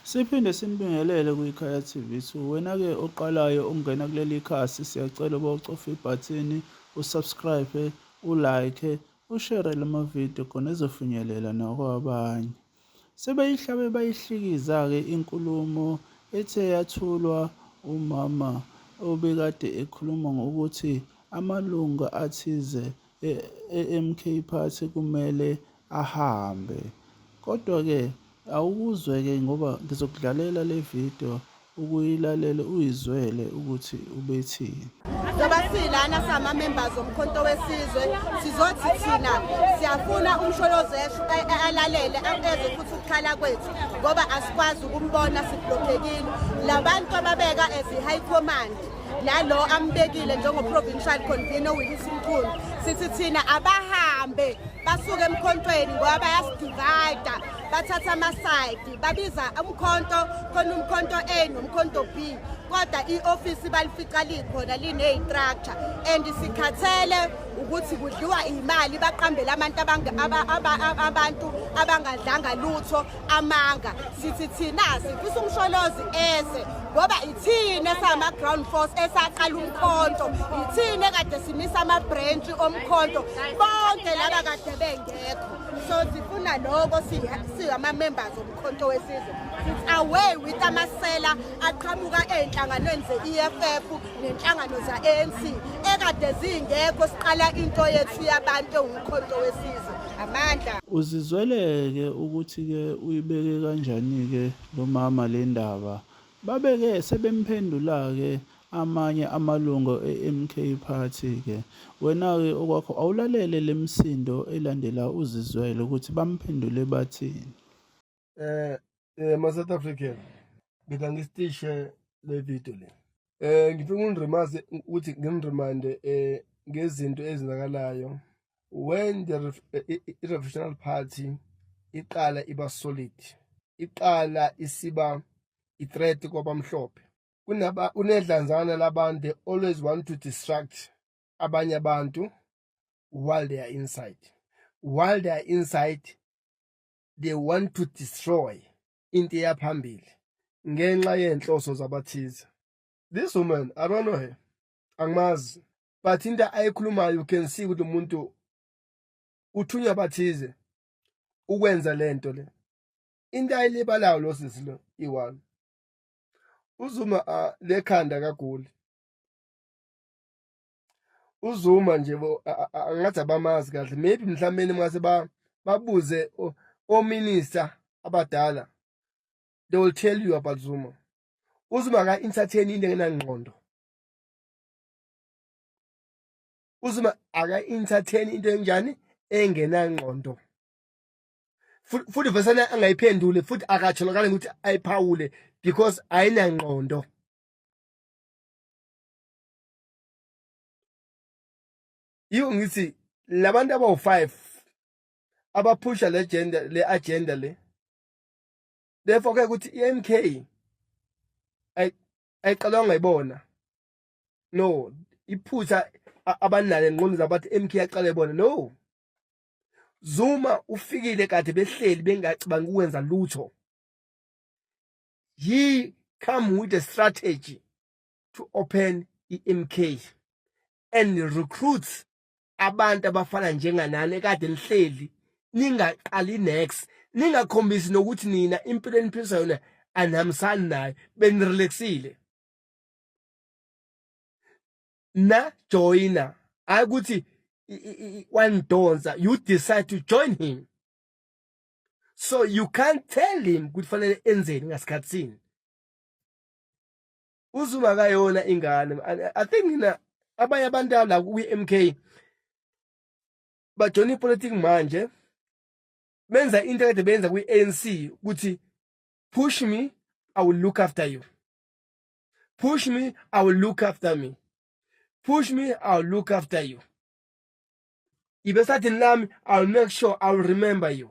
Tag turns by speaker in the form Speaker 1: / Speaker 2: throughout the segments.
Speaker 1: Siphinde simbingelele kwikhaya TV 2. Wena ke oqalayo ukungena kuleli khasi siyacela uba ucofe ibhathini usubscribe, ulike, ushere lama video khona ezofinyelela nakwabanye. Sebeyihlabe bayihlikiza ke inkulumo ethe yathulwa umama obekade ekhuluma ngokuthi amalunga athize e-MK Party kumele ahambe. Kodwa-ke awukuzwe-ke ngoba ngizokudlalela le video ukuyilalele uyizwele ukuthi ubethini. Ngoba
Speaker 2: silana sama members omkhonto wesizwe sizothi thina siyafuna umsholozi esho alalele angeze futhi ukukhala kwethu ngoba asikwazi ukumbona siblockekile labantu ababeka as high command nalo ambekile njengoprovincial convener wilisi mkhulu sithi thina abahambe basuke emkhontweni ngoba bayasidivayida bathatha amasayidi babiza umkhonto khona umkhonto a nomkhonto b kodwa i-ofisi balifica likhona lineyi-structure and sikhathele ukuthi kudliwa imali baqambele abantu abantu abangadlanga lutho amanga sithi thina sifisa umsholozi eze ngoba ithini esama-ground force esaqala umkhonto ithini ekade simisa ama-branch omkhonto bonke laba kade bengekho so sifuna loko singama-members omkhonto wesizwe sithi away with amasela aqhamuka ey'nhlanganweni ze-eff nenhlangano za-anc ekade zingekho siqala into yethu yabantu ewumkhonto wesizwe amandla uzizweleke
Speaker 1: ukuthi ke uyibeke kanjani ke lo mama le ndaba babe ke sebemphendula ke amanye amalungu e-MK Party ke wena ke okwakho awulalele lemsindo elandela uzizwele ukuthi bamphendule bathini eh eh ma
Speaker 3: South African ngitha ngistishe le video le eh ngifuna uniremind ukuthi ngimremind eh ngezinto ezenzakalayo when the revolutionary party iqala iba solid iqala isiba i-threat kwabamhlophe kunaba kunedlanzana labantu they always want to distract abanye abantu while they are inside while they are inside they want to destroy into eyaphambili ngenxa yenhloso zabathize this woman i don't know her angimazi but into ayikhulumayo you can see ukuthi umuntu uthunywa bathize ukwenza lento le into ayilibalayo lo sisi lo iwami uzuma lekhanda kagoli uzuma nje angathi abamazi kahle maybe mhlawumbe mase babuze ominister abadala they will tell you about zuma uzuma aka-entertain into engenangqondo uzuma aka-entertain into enjani engenangqondo futhi vesane angayiphendule futhi akatholakali ukuthi ayiphawule because ayinangqondo yiwo ngithi labantu abawu-five abaphusha le agenda le agenda le therefore ke ukuthi i-MK ayiqalwanga ibona no iphutha abanalo enqondo zabathi MK yaqala ibona no Zuma ufikile kade behleli bengacabangi ukwenza lutho he come with a strategy to open iMK and recruits abantu abafana njenganani ekade nihleli ningaqali next ningakhombisi nokuthi nina impilo eniphilisa yona anihambisani nayo benirelaxile na joina hayi ukuthi wanidonsa you decide to join him so you can't tell him ukuthi fanele enzeni ngasikhathini uZulu akayona ingane i think mina abanye abantu la kwi-MK bajona ipolitiki manje benza into kade benza kwi-ANC ukuthi push me i will look after you push me i will look after me push me i will look after you ibe sathini lami i will make sure i will remember you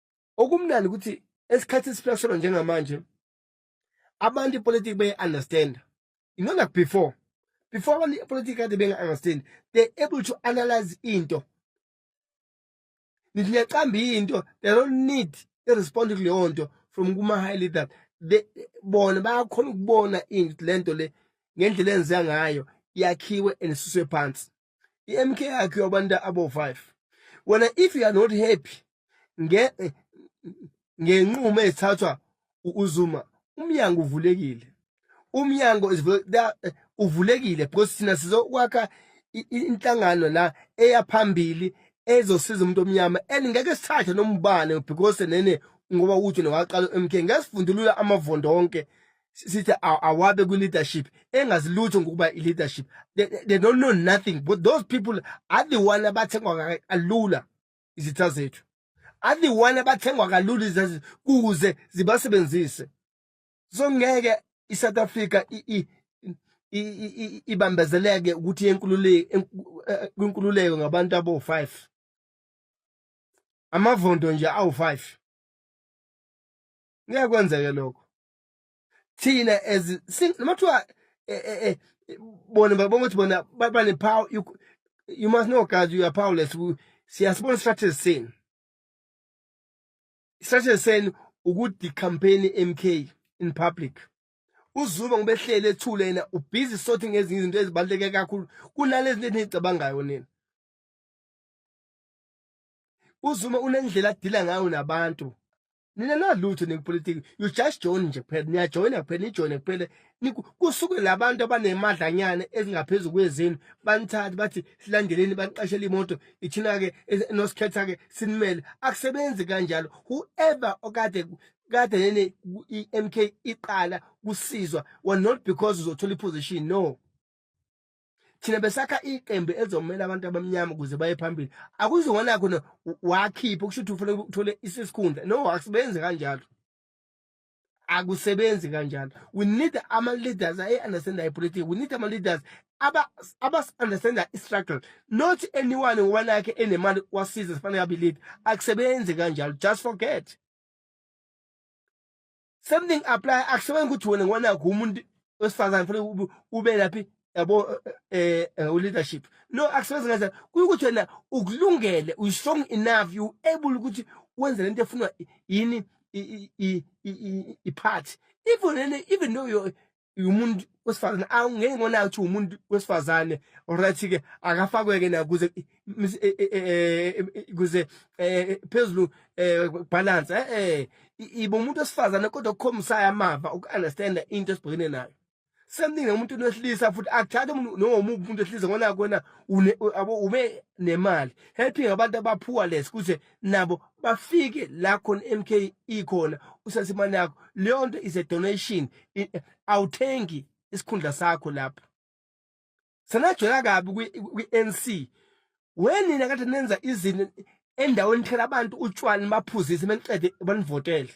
Speaker 3: okumnandi ukuthi esikhathi esiphila kusona njengamanje abantu ipolitiki beye-understanda you know like before before abantu ipolitiki kade benga-understand they're able to analyze into nithi niyacamba into they don't need i-respond kuleyo nto from kuma-high leader bona bayakhona ukubona into le nto le ngendlela enziwa ngayo yakhiwe and isuswe phansi i-mk yakho yabantu abo-five wena if you are not happy ngenqumo ezithathwa uzuma umnyango uvulekile umnyango eh, uvulekile because thina sizokwakha inhlangano la eyaphambili ezosiza umuntu omnyama and ngeke sithathe nomubane because nene ngoba uthi nowaqala uMK ngesifundulula amavondo onke sithi awabe kwi-leadership engazi lutho ngokuba i-leadership they, they don't know nothing but those people are the one abathengwa kalula izitha zethu are the one abathengwa kalula izitha zethu kuze zibasebenzise so ngeke i-south africa ibambezeleke ukuthi eh, kwinkululeko ngabantu abo-five amavondo nje awu-five ngeke kwenzeke lokho thina as noma kuthiwa eh, eh, eh, bona babonga ukuthi bona bane power you, you must know guys you are powerless siyasibona strategy senu strategy senu ukuthi campaign MK in public uzuba ngobehlele ethule yena ubhizi sothi ngezinye izinto ezibaluleke kakhulu kunalezi zinto enizicabangayo nina uzuma unendlela adila ngayo nabantu nina nalutho nikupolitiki you just join nje kuphela niyajoyina kuphela nijoyine kuphela kusuke labantu abanemadlanyana ezingaphezulu kwezenu banithathe bathi silandeleni baniqashela imoto ithina-ke nosikhetha-ke sinimele akusebenzi kanjalo whoever okade kade nene i-m k iqala kusizwa well not because uzothola iposition no thina besakha iqembu elizomela abantu abamnyama ukuze baye phambili akuzona khona wakhipha kusho ukuthi ufuna uthole isikhundla no akusebenzi kanjalo akusebenzi kanjalo we need ama-leaders ayi-understanda ipolitiki we need ama-leaders abas-understanda aba i-struggle not anyone ngoba nakhe enemali wasiza sifanele abe-lead akusebenzi kanjalo just forget same thing apply akusebenzi ukuthi wena ngona kumuntu wesifazane fanele ube laphi yabo eh, eh uleadership no akusebenzi ngathi kuyukuthi wena ukulungele u strong enough you able ukuthi wenze lento efunwa yini i party even even though you umuntu wesifazane awungeke ngona ukuthi umuntu wesifazane alright ke akafakweke na kuze kuze phezulu balance eh ibo umuntu wesifazane kodwa ukhomisayo amava ukunderstand into esibhekene nayo same thing umuntu wesilisa futhi akuthathe umuntu noma umuntu wesilisa ngona kwena ube nemali helping abantu abaphuwa lesi kuze nabo bafike la khona MK ikhona usase imali yakho leyo nto is a donation awuthengi isikhundla sakho lapho sanajwela kabi kwi-NC wenina kade nenza izinto endaweni thela abantu utshwala nibaphuzise beniqede banivotele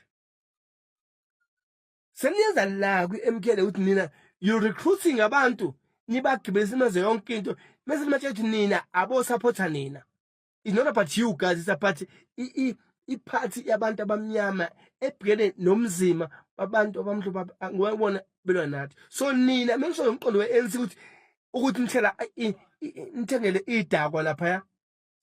Speaker 3: seniyenza la kwi-MK le ukuthi nina you recruiting abantu nibagibelisa imaze yonke into mese nimatshe ukuthi nina abosapotha nina is not about you guys it's about iphathi yabantu abamnyama ebhekene nomzima babantu abamhlophe ngibona belwa nathi so nina mengisho ngomqondo we-ANC ukuthi ukuthi nithela nithengele idakwa laphaya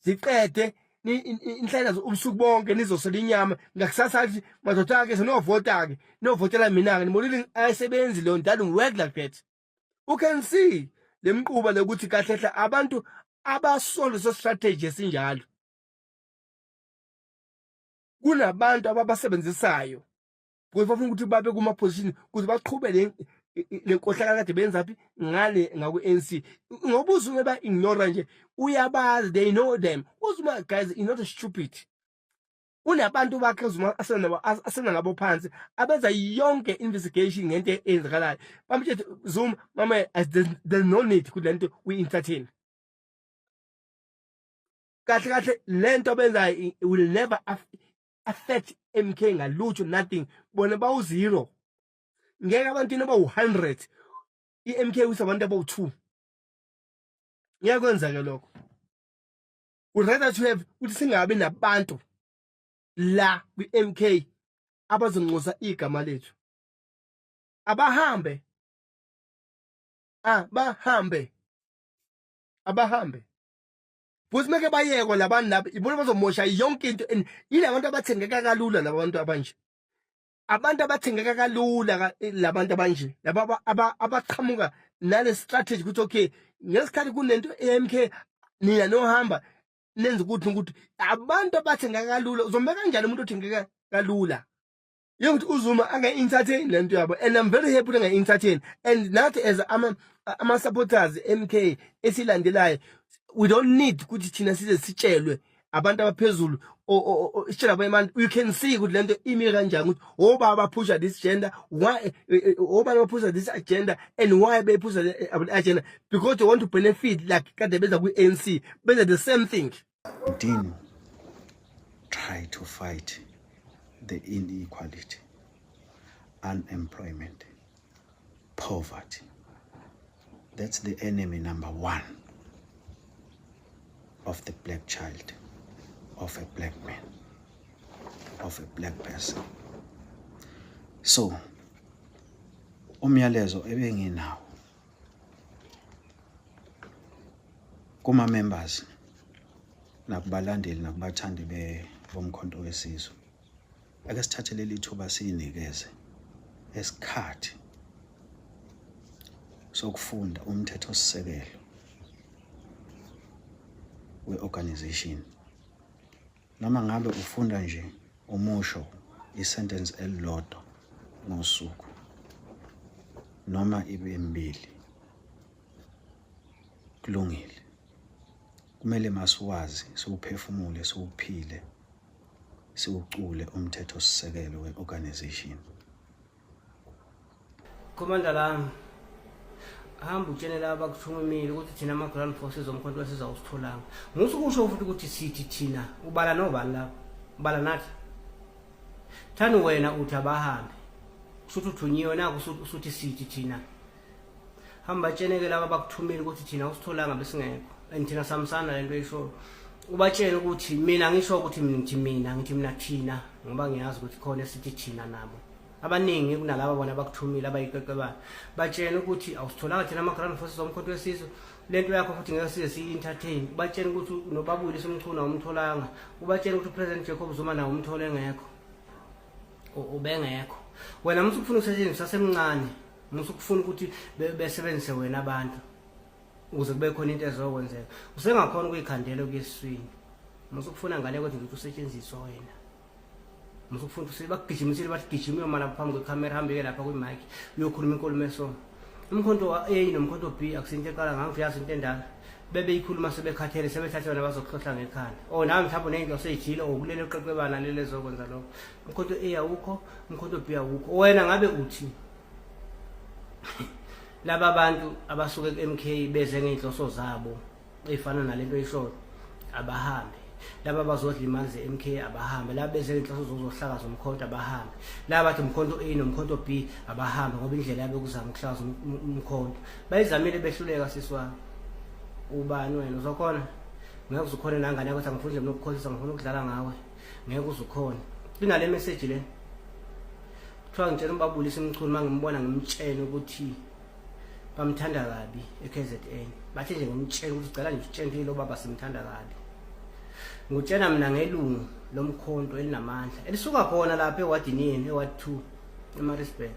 Speaker 3: ziqede inhlalazo ubusuku bonke nizosela inyama ngakusasa athi madoda-ke senovota-ke novotela mina-ke nimonile ayisebenzi leyo ndalo ngiwork like that u can see lemquba lokuthi kahle kahle abantu abasolo so strategy esinjalo kunabantu ababasebenzisayo because bafuna ukuthi babe kuma position ukuthi baqhube le lenkohlakala kade benza phi ngale ngaku NC ngoba uzume ba ignore nje uyabazi they know them uzuma guys is not stupid unabantu bakhe zuma asena ngabo phansi abenza yonke investigation ngento eyenzakalayo bamtshela Zuma mama there's no need ukuthi lento we entertain kahle kahle lento abenzayo will never affect MK ngalutho nothing bona bawu zero ngeke abantu noba u100 iMK usabantu abawu2 ngeke kwenzeke lokho would rather to have ukuthi singabi nabantu la kwi-MK abazoncosa igama lethu abahambe abahambe abahambe futhi meke bayekwa labantu laba ibona bazomosha yonke into and yilabantu abathengeka kalula labantu abanje abantu abathengeka kalula eh, labantu abanje laba abaqhamuka nale strategy ukuthi okay ngesikhathi kunento eMK nina nohamba nenza ukuthi ukuthi abantu abathengeka kalula uzombeka kanjani umuntu othengeka kalula yokuthi uzuma ange entertain lento yabo and i'm very happy ukuthi ange entertain and nathi as ama ama supporters MK esilandelayo we don't need ukuthi thina size sitshelwe abantu abaphezulu isitshela abanye abantu you can see ukuthi lento imi kanjani ukuthi obaba baphusha this gender why eh, eh, eh, obaba baphusha this agenda and why bephusha the agenda because they want to benefit like kade benza kwi-anc benza the same thing Dean
Speaker 4: try to fight the inequality unemployment Poverty. That's the enemy number one of the black child, of a black man, of a black person. So, umyalezo ebenginawo kuma members nakubalandeli nakubathandi bomkhonto wesizwe ake sithathe leli thuba siyinikeze esikhathi sokufunda umthetho sisekelo we-organization noma ngabe ufunda nje umusho isentence elilodwa ngosuku noma ibe mbili kulungile kumele masiwazi siwuphefumule siwuphile siwucule umthethosisekelo we-organization
Speaker 5: khomanda lami hamba utshene laba kuthumimile ukuthi thina ama-ground forces omkhonto wesizawusitholanga musu kusho futhi ukuthi sithi thina ubala nobani laba ubala nathi thani wena uthi abahambe kusho ukuthi uthunyiwe naku usuthi sithi thina hamba tsheneke laba bakuthumile ukuthi thina usitholanga besingekho and thina samsana lento eyishoyo ubatshele ukuthi mina ngisho ukuthi ngithi mina ngithi mina thina ngoba ngiyazi ukuthi khona esithi thina nabo abaningi kunalaba bona bakuthumile abayiqeqebana batshele ukuthi awusitholanga thina ama-grand forces omkhonto wesizwe le nto yakho futhi ngeke size siyi-entertain ubatshele ukuthi nobabuyile somchuna awumtholanga ubatshele ukuthi upresident jacob zuma nawo umthole engekho ubengekho wena muthi ukufuna ukusetshenziswa semncane musa ukufuna ukuthi besebenzise wena abantu ukuze kube khona into ezokwenzeka usengakhona ukuyikhandela okuyeswini musa ukufuna ngale kodwa ukuthi usetshenziswe wena musa ukufuna ukuthi bakugijimisile bathi gijima uyoma lapho phambi kwekhamera hambeke lapha kwimike uyokhuluma inkulumo esoma umkhonto wa-a nomkhonto b akusinto eqala ngangivuyazi into endala bebeyikhuluma sebekhathele sebethathe yona bazokuhlohla ngekhanda o oh, nawe mhlawumbe unento oseyijile okulele uqeqebana lelezokwenza lokho mkhonto A awukho mkhonto B awukho wena ngabe uthi laba bantu abasuke ku-MK beze ngey'nhloso zabo ey'fana nalento eyisholo abahambe laba bazodla imali ze-MK abahambe laba beze ngey'nhloso zokuzohlakaza umkhonto abahambe laba bathi umkhonto A nomkhonto B abahambe ngoba indlela yabe kuzama ukuhlakaza um-, um-, umkhonto bayizamile behluleka sisi wami ubani wena uzokhona ngeke uzukhona nangane yakuthi angifuni nje mina ukukhohlisa ngifuna ukudlala ngawe ngeke uzukhona inale message le kuthiwa ngitshela umbabulisa imchunu uma ngimbona ngimtshene ukuthi bamthanda kabi e-KZN bathe nje ngimtshene ukuthi cela nje utshentile lobaba simthanda kabi ngutshena mina ngelungu lomkhonto elinamandla elisuka khona lapha ewadini yenu eward 2 emarisburg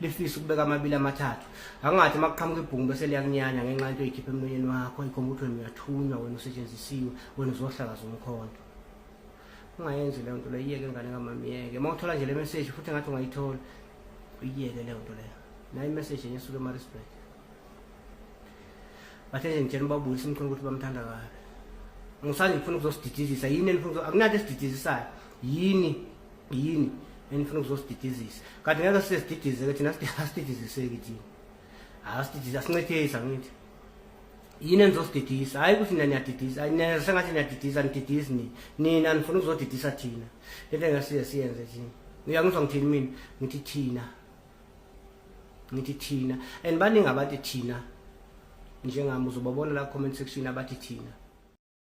Speaker 5: lifisa ukubeka amabili amathathu angathi uma kuqhamuka ibhungu bese liyakunyanya ngenxa into oyikhipha emlonyeni wakho ikhomba ukuthi wena uyathunywa wena usetshenzisiwe wena uzohlakaza umkhonto ungayenzi leyo nto leyo iyeke ngane kamama iyeke uma uthola nje le meseji futhi ngathi ungayithola uyiyeke leyo nto leyo nayo imeseji enye esuke emarisburg bathe nje ngitshela ubabuyi simkhona ukuthi bamthanda kabi ngisanje ngifuna ukuzosididizisa yini enifuna akunanto esididizisayo yini yini enifuna ukuzosididizisa kanti ngeke sisesididise ke thina asididiziseki thina asididise asincethisa ngithi yini enizosididisa hhayi ukuthi nina niyadidisa sengathi niyadidisa nididisi nini nina nifuna ukuzodidisa thina lento engasiye siyenze thina uyangizwa ngithini mina ngithi thina ngithi thina and baningi abathi thina njengami uzobabona la comment section abathi thina